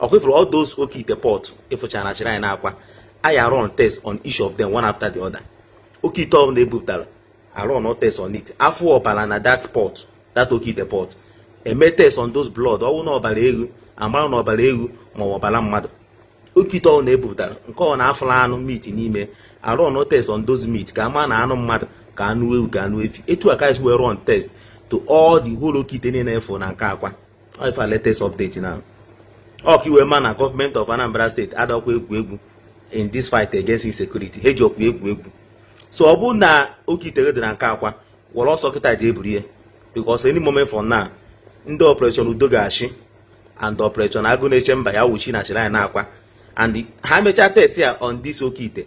ọkwa ị fụrụ all those oke ite pot ịfụchara na shrine Akwa a run test on each of them one after the other oke ite ọbụla ebupụtara a run test on it a fụ ọbara na that pot that oke ite pot e mee test on those blood ọwụ na ọbara eghu amara na ọbara eghu ma ọ ọbara mmadụ oke ite ọbụla ebupụtara nke ọ na-afụla anụ meat n'ime a run test on those meat ka ama na anụ mmadụ ka anụ ewu ka anụ efi etu a ka e si wee run test to all the whole oke ite niile a fụ na nke Akwa ife latest update now ọ ka ị wee ma na government of Anambra state adọkwa egwu egwu in this fight against insecurity ha ejiokwa egwu egwu so ọ bụrụ na oke ite gị dị na nke Akwa were ọsọ kịta jee buru ya because any moment from now ndị operation udo ga-achị and operation agụ na-eche mba ya-awụchi na shrine Akwa and ha mechaa test ya on this oke ite